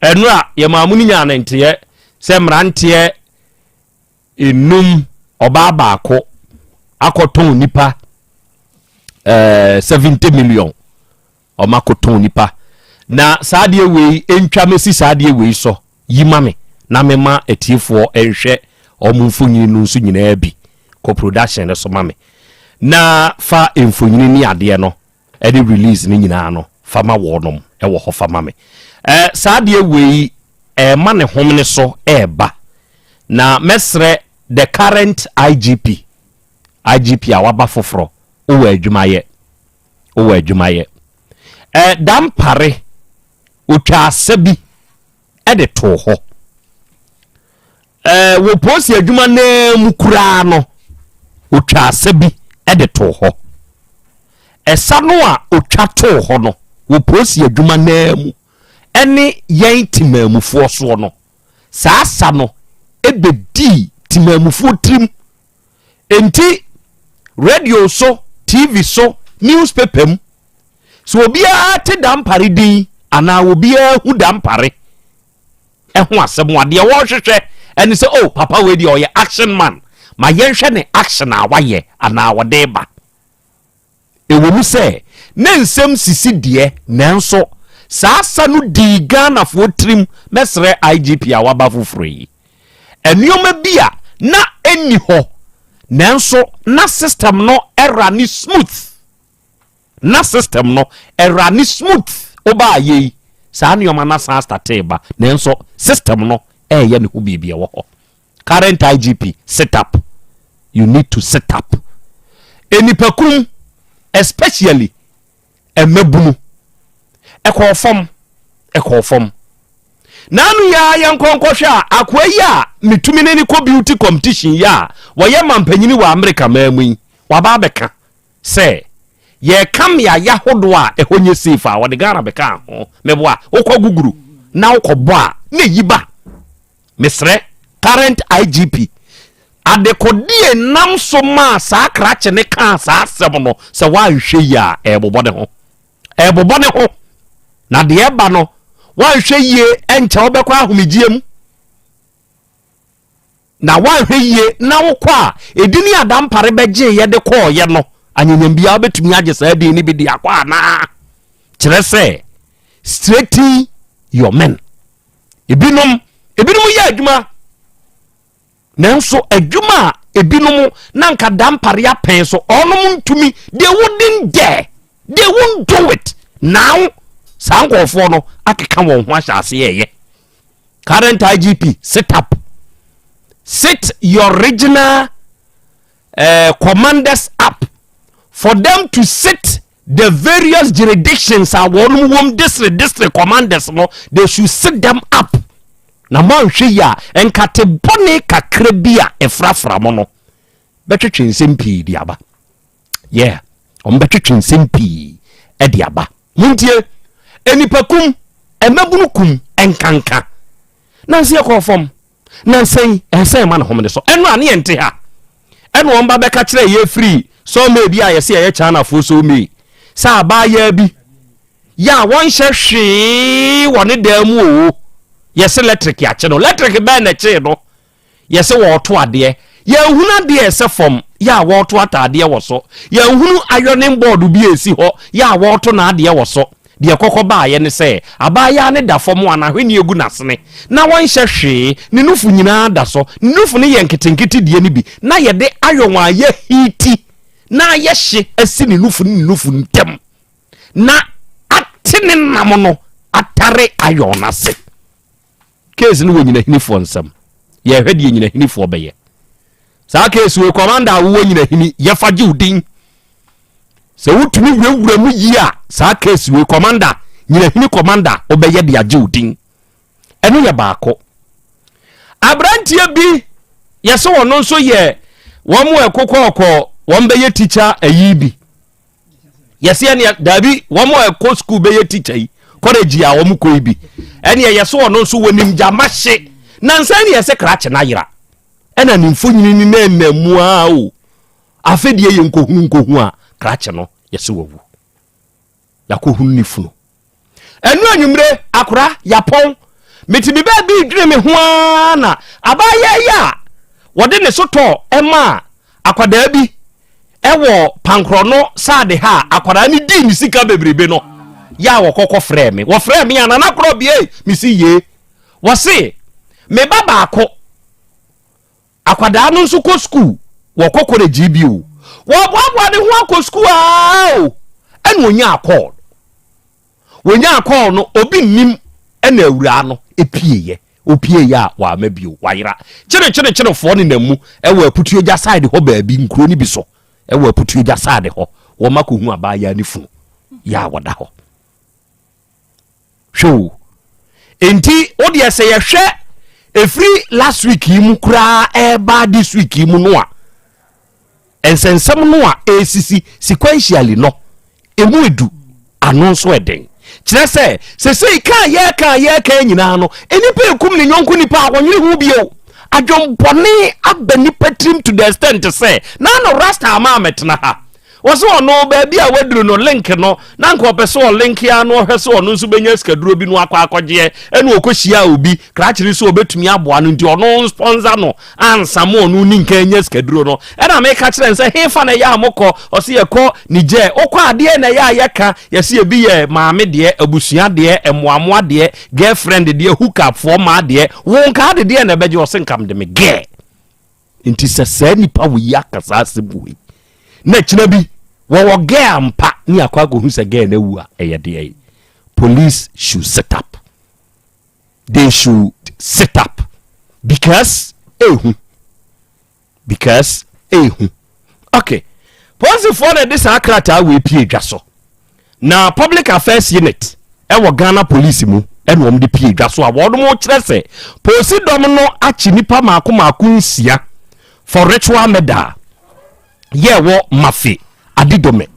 Ɛnora yɛmaa mu no nyaa ne nteɛ sɛ mmeranteɛ nnum, ɔbaa baako akɔtɔn nipa eh, 70 million ɔma akɔtɔn nipa na saa adeɛ wei ntwa mɛsi saa adeɛ wei sɔ yi ma me na mema atiefoɔ nhwɛ ɔmo mfonyini no nso nyinaa bi kɔ production no so ma me na fa mfonyini ne adeɛ no ɛne release no nyinaa no fa ma wɔnom wɔ hɔ fa ma me eh, saa adeɛ wei ɛɛma ne homene so ɛɛba na mɛsrɛ the current igp igp a waba foforɔ wowɔ adwumayɛ wowɔ adwumayɛ eh, dampare otwa asa bi de too hɔ. Ɛɛ wɔ polisi adwuma no ara mu koraa no, ɔtwaa asa bi de too hɔ. Ɛsa no a ɔtwa too hɔ no wɔ polisi adwuma no ara mu ne yɛn temaamufoɔ soɔ no, saa asa no bɛdii temaamufoɔ tirim Enti radio so, TV so, newspaper mu, sɛ obiara te dampare din anaa obiara hu dampare ɛho asɛm a, deɛ wɔrehwehwɛ ɛne sɛ, oh, papa wei deɛ ɔyɛ action man, ma yɛnhwɛ ne action a wayɛ anaa ɔde ba. Ɛwom sɛ na nsɛm sisi deɛ, nanso saa sa no dii Ghanafoɔ tirim bɛsrɛ IGP a waba foforɔ yi. Nneɛma bi a na ɛnni hɔ, nanso na system no runne smooth. Na system no runne smooth. Woba ayɛ yi, saa nneɛma no asan astate reba, nanso system no reyɛ ne ho biribi, ɛwɔ hɔ. current IGP sit up you need to sit up nnipakum especially mmabunu ɛkɔɔ fam ɛkɔɔ fam na ano yɛ a yɛn nkɔnkɔhwɛ a akoa yi a metumi ne ne kɔ beauty competition yi a wɔyɛ mampanyini wɔ Amerika maa mu yi waba abɛka sɛ yɛka mmeaeɛ ahodoɔ a ɛhɔ nyɛ safe a wɔde Ghana bɛka ho meboa wokɔ guguru na wokɔbɔ a na ɛyi ba Mesrɛ current IGP, adekodeɛ nam so maa saa krakye no kaa saa asɛm no, sɛ woanhwɛ yie a ɛrebobɔ ne ho. Ɛrebobɔ ne ho. Na deɛ ɛba no, woanhwɛ yie ɛnkyɛ wobɛkɔ ahomegyeɛ mu. Na woanhwɛ yie na wokɔ a, edini adampare bɛgyeeɛ de kɔɔeɛ no, anyanyam biara wobɛtumi agye saa din no bi de akɔ anaa? Kyerɛ sɛ, straighten your men. ebinom ebinom yɛ adwuma nanso adwuma a ebinom na nka da mpare apɛn so ɔnom ntumi they wouldn't dare they won't do it now saa nkurɔfoɔ no akeka wɔn ho ahyɛ ase yɛyɛ current igp sit up sit your regional uh, commanders up for them to sit The various jurisdictions a wɔn wɔm district district commanders no they should sit them up na moanhwɛ yi a nkate bɔne kakra bi a ɛfrafra mo no bɛtwetwe nsɛm pii de aba yeah wɔn bɛtwetwe nsɛm pii de aba montie nnipa kum mmabunu kum nkanka nansi ɛkɔɔ fam Nansa yi, ɛsɛ sɛ yɛma no homene so. Ɛno a, ne yɛn nte ha. Ɛna wɔn ba bɛka kyerɛɛ yɛn firii sawmey bi a yɛse ɛyɛ Chinafoɔ sawmey sɛ abaayaa bi yɛ a wɔnhyɛ hwee wɔ ne dan mu oo, yɛse lɛtreke akye no. Lɛtreke bɛn na ɛkyee no? Yɛse wɔreto adeɛ. Yɛanhunu adeɛ a ɛsɛ fam yɛ a wɔreto ataadeɛ wɔ so. Yɛanhunu ironing board bi a ɛsi hɔ yɛ a wɔreto n'adeɛ wɔ so. Deɛ ɛkɔkɔ baeɛ ne sɛ, abaayaa no da fam a n'ahweneɛ gu n'asene, na ɔnhyɛ hwee, ne nufu nyinaa da so. Ne nufu no yɛ nketenkete deɛ no bi, na yɛde iron a yɛahiiti na ayɛ hye asi ne nufu ne ne nufu ntam, na ate ne nam no atare iron no ase. Case no wɔ nyinahinifoɔ nsam. Yɛhwɛ deɛ nyinahinifoɔ bɛyɛ. Saa case wei commander a wowɔ nyinahini yɛfa gye wo din. Sɛ wotumi wurawura mu yie a saa case wei commander nyinahini commander wobɛyɛ de agye wo din. Ɛno yɛ baako. Aberanteɛ bi yɛsɛ wɔn nso yɛ wɔn ɛkokɔɔkɔ wɔn bɛyɛ teacher ayi bi. yɛsɛ ɛneɛ daabi wɔn a ɛkɔ sukuu bɛyɛ tikya yi kɔlɛgyi a wɔn kɔ yi bi ɛneɛ yɛsɛ ɔno nso wɔnim gyama hye nansa ɛneɛ yɛsɛ krakye no ayera ɛna ne mfonyini ne na ɛna mu a o afei deɛ yɛ nkɔhunu nkɔhu a krakye no yɛsɛ wawu yɛakɔhunu ne funu ɛno anwummere akora yapɔn mete me baa bi dwene me ho ara na abaayɛ yi a wɔde ne so tɔ ɛma a akwadaa bi ɛwɔ pankorɔ no saade ha a akwadaa no dii ne sika bebrebe no yɛ a wɔkɔkɔ frɛɛ me wɔfrɛɛ me a nana korɔ bie mesi yie wɔse me ba baako Akwadaa no nso kɔ sukuu, wɔkɔ kɔlɛgyi bi o, wɔreboaboa ne ho akɔ sukuu aa o, ɛna ɔnyaa kɔɔl no. Wɔnyaa kɔɔl no, obi nnim ɛna awuraa no pieeɛ. Ɔpieeɛ a, wamma bio, wayera. Kyerekyerekyerefoɔ nenam mu wɔ Aputuogya side hɔ baabi, nkuro no bi so wɔ Aputuogya side hɔ, wɔakɔhu abaayaa ne funu, yɛ a wɔda hɔ. hwɛ o enti wo deɛ sɛ yɛhwɛ ɛfiri last week yi mu koraa ɛreba this week yi mu no a nsɛnsɛm no a ɛresisi sequentially no ɛmu edu ano nso ɛden kyerɛ sɛ sesei kaa yɛ kaa yɛ kaa nyinaa no nipa ekum ne nyɔnko nipa a wɔnyere ho bio adwembɔne aba nipa tirim to the extent sɛ na no rasta ama ametena ha Wɔse ɔno baabi a waduru no link no na anka ɔpɛ sɛ ɔlink ara na ɔhwɛ sɛ ɔno nso bɛnya sikaduro bi na wakɔ akɔgyeɛ ɛna ɔkɔhyiaa obi krakyere sɛ ɔbɛtumi aboa no nti ɔno nspɔnsa no ansa ma ɔno ne nka anya sikaduro no ɛna meka kyerɛ no sɛ hefa na ɛyɛ a mokɔ ɔse yɛkɔ Niger wokɔ adeɛ na ɛyɛ a yɛka yɛse ebi yɛ maame deɛ abusua deɛ mmoamoa deɛ girlfriend deɛ hookupfoɔ maa deɛ wo nka ade deɛ na ɛbɛgye ɔse nka mede me gɛɛ Nti sɛ saa nipa wɔ yi aka saa asɛm wɔ yi na akyina bi wɔwɔ gɛɛ ampa ne akɔ akɔhu sɛ gɛɛ no awu a ɛyɛ deɛ yi police should set up they should set up because ehu because ehu okay polisifoɔ na ɛde saa krataa wɔ epie dwa so Na Public Affairs Unit wɔ Ghana Police mu na wɔde pie dwa so a wɔnom rekyerɛ sɛ Polisi dɔm no akye nnipa maako maako nsia for ritual murder a yɛ ɛwɔ Mafe, Adidome.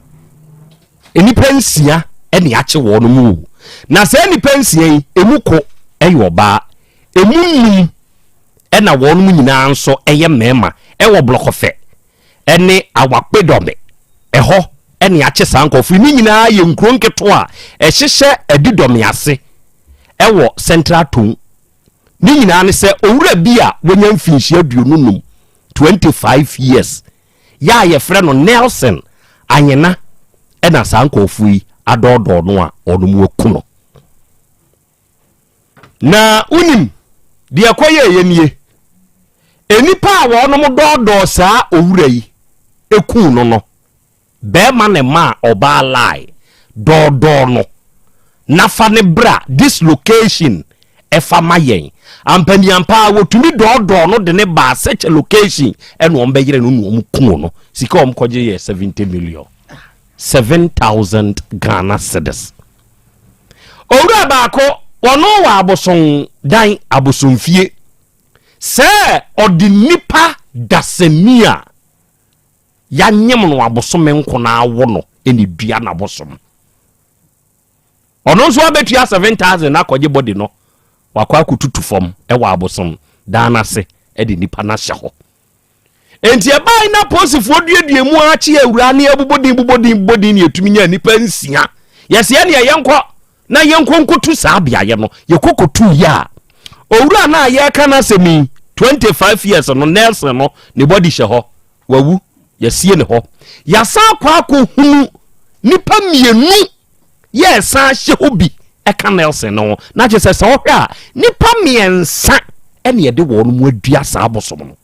Nnipa nsia na yɛakye wɔnom o. Na saa nnipa nsia yi, emu ko yɛ ɔbaa, emu nnum na wɔnom nyinaa nso yɛ mmarima wɔ Blɔkɔfɛ ne Awakpedɔme, ɛhɔ na yɛakye saa nkurɔfo yi. Ne nyinaa yɛ nkuro nketewa a ɛhyehyɛ Adidɔme ase wɔ Central Tongu. Ne nyinaa ne sɛ owura bi a wanya mfinhyia aduonu num, 25 years, yɛ a yɛfrɛ no Nelson Anyena na saa nkurɔfoɔ yi adɔɔdɔɔ no a wɔnom aku no. Na wonim deɛ ɛkɔyɛeɛ nie, Nnipa a wɔnom dɔɔdɔɔ saa owura yi kuu no no, barima na ɛmaa ɔbaa lie dɔɔdɔɔ no, na fa no bra this location ɛfa ma yɛn. Ampaniampaa wɔtumi dɔɔdɔɔ no de no baa such a location ɛna wɔn bɛyere no na wɔn kuu no. Sika wɔn kɔgye yɛ 70 million, 7,000 Ghana cedis. Owura baako, ɔno wɔ abosondan, abosomfie, sɛ ɔde nipa dasani a yɛanyem no abosome nko na awo no na edua n'abosom. Ɔno nso abetua seven thousand akɔgye body no wakɔ akɔtutu fam wɔ abosom dan no ase de nipa no ahyɛ hɔ. Enti ɛbae na posifoɔ duadua mu ara kye awura ne abubɔdin bubɔdin bubɔdin ne yɛtumi nya nnipa nsia. Yɛsɛ ɛne ɛyɛ nkɔ na yɛnkɔ nkɔtu saa beaeɛ no. Yɛkɔ kɔtu yɛ a, owura no a yɛreka no asɛm yi, 25 years no, Nelson no, ne bɔdi hyɛ hɔ. Wawu. Yɛasie ne hɔ. Yɛasan akɔ akɔhunu nnipa mmienu yɛresan hyɛ hɔ bi ka Nelson no ho. Na kyerɛ sɛ sɛ wohwɛ a, nnipa mmiɛnsa ɛna yɛde wɔn mu adua saa abosom no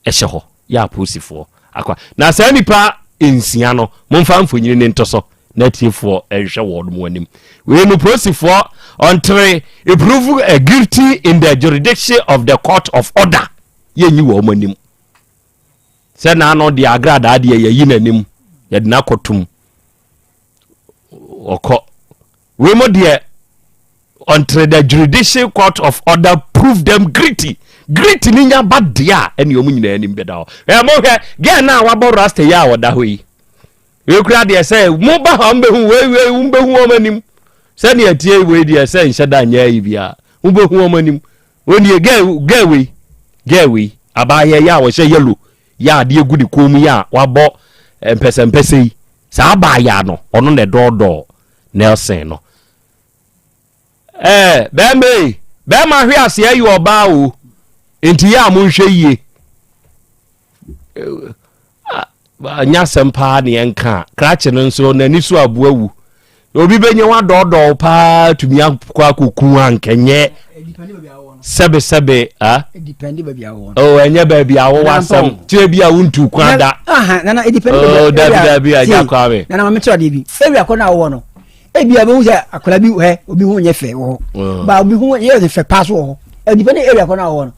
ɛhyɛ hɔ yɛ apolisifoɔ akwa. Na saa nnipa nsia no momfa mfonyini no nto so na atiefoɔ nhwɛ wɔn mu anim. Wei no polisifoɔ ɔntere prove eh, guilty in the jurisdiction of the court of order yɛnyi wɔn mu anim sɛ naano deɛ agradaa deɛ yɛyi n'anim yɛde no akɔtom ɔkɔ wei mo deɛ until the judicial court of order prove them guilty guilty ni nya ba deɛ a ɛne ɔmo nyinaa anim bɛda hɔ ɛɛ mo hwɛ gɛɛ no a wabɔ rasta yi a ɔda hɔ yi ekura deɛ sɛ mo ba hɔ mbɛhu wei wei mbɛhu wɔn anim sɛdeɛ ɛteɛ wei deɛ sɛ nhyɛ da nyɛ ayi bi a mbɛhu wɔn anim wɔn deɛ gɛɛ gɛɛ wei gɛɛ wei abaayɛ yi a wɔhyɛ yellow yɛ adeɛ gu ne kɔn mu yi a wabɔ mpɛsɛmpɛsɛ yi, saa abaayaa no, ɔno na ɛdɔɔdɔɔ Nelson no. Ɛɛ, bɛɛma ei, bɛɛma hwe aseɛ yɛ ɔbaa o, nti yɛ a monhwɛ yie. Nya asɛm paa ne yɛnka a, krakye no nso n'ani so aboa wu. na obi bɛnya wadɔɔdɔɔ paa tumi akɔ akɔku a nkɛnyɛ sɛbesɛbe ɛnyɛ baabi a wowɔ asɛm tire bi a wontu kwan da dabidabi agya kwa me nana mame kyerɛ adeɛ bi ɛwi akɔ no a wowɔ no ebi a bɛhu sɛ akwadaa bi hɛ obi ho nyɛ fɛ wɔ hɔ ba obi ho yɛ fɛ paa so wɔ hɔ ɛdipɛne ɛwi akɔ no a wowɔ no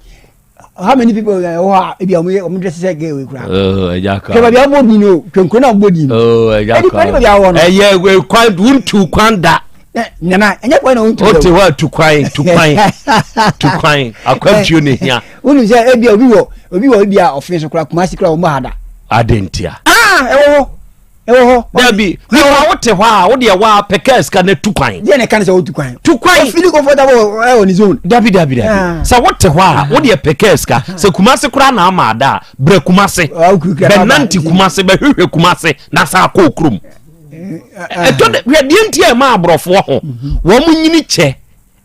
how many people wɔ hɔ a ebi a wɔn dress sɛ gay wei kura. Oh, ɛja ka. kɛmɛ bi a wɔn di no kɛnkɛn na wɔn di no. Oh, ɛja ka. ɛdi kwan bi a wɔn no. ɛyɛ kwan wuntu kwan da. nana ɛnyɛ kwan na wuntu da. o ti hɔ a tu kwan tu kwan tu kwan akwamtuo na ehia. wunu sɛ ebi a obi wɔ obi wɔ ebi a ɔfin so kura kumasi kura wɔn bɔ ha da. adentia. aa ah, ɛwɔ hɔ. ɛwɔ hɔ. dabi nipa wo te hɔ a wo deɛ wɔ a pɛ kaa sika na tu kwan. deɛ na ɛka ne sɛ wotu kwan. tu kwan. ofili comfortable ɛwɔ ne zone. dabi dabi dabi ah. sɛ wo te hɔ a ah. wo deɛ pɛ kaa sika ah. sɛ kumase koraa na ama ada a brɛ kumase bɛnante kumase bɛhwehwɛ kumase na sa akɔ okurom. ɛtɔ dɛ hwɛ deɛ nti a ɛma aborɔfoɔ ho mhm. wɔn nyini kyɛ.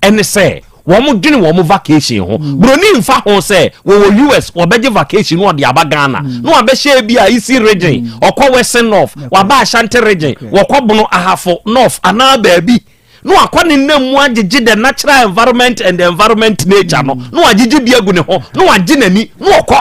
Ɛne sɛ wɔn dwene wɔn vacation ho. Mm. Broni nfa ho sɛ wɔwɔ US wɔbɛgye vacation no wɔde aba Ghana. Mm. Na wɔabɛhyɛ ebi a Isi region, mm. ɔkɔ Western North, wɔaba Ashanti region, wɔkɔ Bono Ahafo North anaa baabi. Na wakɔ ne nam mu agyegye the natural environment and the environment nature no. Na wagyegye bi agu ne ho. Na wagye n'ani. Na ɔkɔ.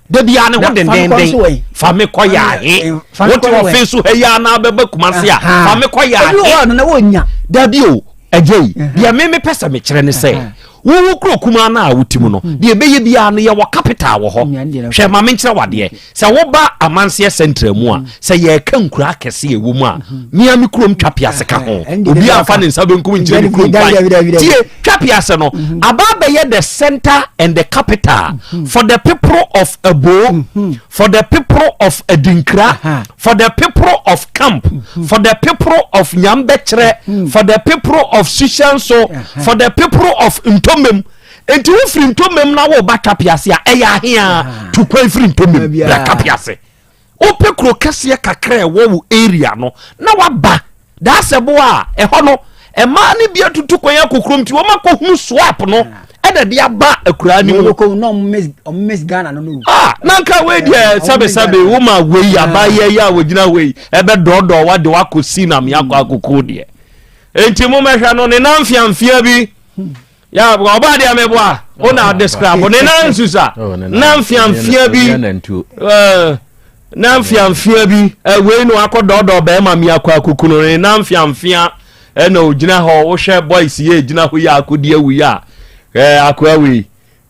da biara ne ho dendenden fa me kɔ yaahe wote ɔfe so ha yi a na bɛba kuma se a fa me kɔ yaahe dabi o agya yi deɛ me mepɛ sɛ mekyerɛ ne sɛ wowo kuro kumaa no a wotim no mhm. deɛ ɛbɛyɛ biara no yɛwɔ capital wɔ hɔ hwɛ ma menkyerɛ wadeɛ mhm. sɛ woba amanseɛ central mu a mhm. sɛ yɛka nkura akɛse ɛwɔ mu a mea me kurom twa piase ka ho obi amfa ne nsa bɛnkum nkyerɛ ne kurom kwan tie Twapiase no aba abɛyɛ the center and the capital for the people of Aboo, for the people of Adinkra, for the people of Camp, for the people of Nyambɛkyerɛ, for the people of Sushanso, for the people of Ntomem. Nti wo firi Ntomem na wo ba Twapiase a ɛyɛ ahea tukwan firi Ntomem bra Twapiase. Wopɛ kuro kɛseɛ kakra a ɛwɔ wo area no na waba Daasɛbo a, ɛhɔ no mmaa no bi atutu kwan akɔ kurom nti wɔn akɔhunu swap no ɛna de aba akuraa no mu. Ah, na nka wei deɛ sɛbesɛbe wo ma wei abayɛ yi a wɔgyina hɔ yi ɛbɛdɔɔdɔɔ wade wakɔ si na meakɔ akɔkoo deɛ. Enti mo mɛhwɛ no ne namfeamfea bi ya ɔbaa deɛ meboa wo na adeskrabo ne na nsusa na mfeamfea bi na mfeamfea bi wei no akɔ dɔɔdɔɔ bɛrima mi akɔ akokunu ne na mfeamfea ɛna ogyina hɔ wohwɛ boys yɛ gyina hɔ yi akodi awu yi a akoa wei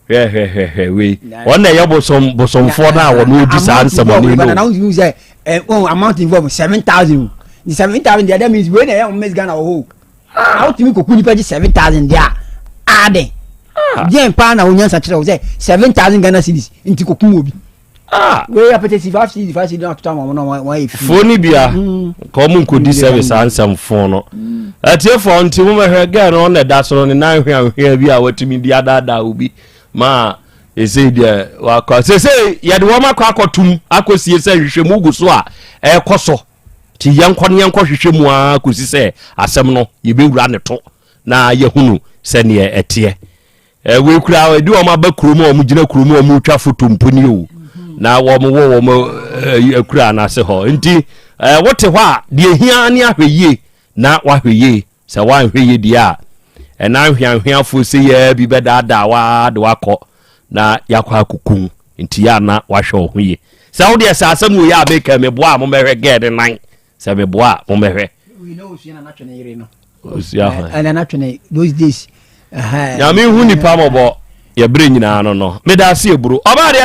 hwɛhwɛhwɛ wei wɔn na ɛyɛ bosom bosomfoɔ no a wɔn odi saa nsɛmɔni no. na wontumi sɛ ɛn wɔn amount involve seven thousand seven thousand deɛ that means wei na ɛyɛ wɔn miss ghana wɔ hɔ Ah, how to me koku nipa ji 7000 dia. Ah, den. Ah. Dia pa na onya sa kire wo se 7000 Ghana cedis nti koku mo bi. Ah, we ya pete si 5 cedis 5 cedis na tuta mo na wa wa e fi. Fo ni bia. Mm. Ko mo ko di service ansem fo no. Mm. Atie fo nti mo me hwe girl no na da so no ne nan hwe ahwe bi a watumi di ada da obi. Ma ɛsei deɛ wakɔ sesei yɛde wɔn akɔ akɔtum akɔsie sɛ nhwehwɛmu gu so a ɛrekɔ so Nti yɛnkɔ na yɛnkɔhwehwɛ mu ara kɔsi sɛ asɛm no yɛbɛwura ne to na yɛahunu sɛdeɛ ɛteɛ. Wei koraa ɛdi wɔn aba kurom a wɔgyina kurom a wɔretwa foto mpo ni o na wɔwɔ wɔn akura no ase hɔ. Nti wote hɔ a deɛ hia ne ahwɛ yie na wahwɛ yie. Sɛ woanhwɛ yie deɛ a, ɛna anhweanhweafoɔ seiaa bi bɛdaadaa wo ara de wo akɔ na yɛakɔ akɔku wo. Enti yɛ a na woahwɛ wo ho yie. Sɛ wo deɛ, sɛ asɛm wei a meka yi, meboa a, mommɛhwɛ girl no nan. Sɛ meboa a, mommɛhwɛ. We know Osua na Natwe ne yere no. Osua hwan? Ɛna Natwe ne those days. Nyame hu nipa mmɔbɔ. Yɛ berɛ nyinaa no no. Meda ase eburo. Ɔbaa deɛ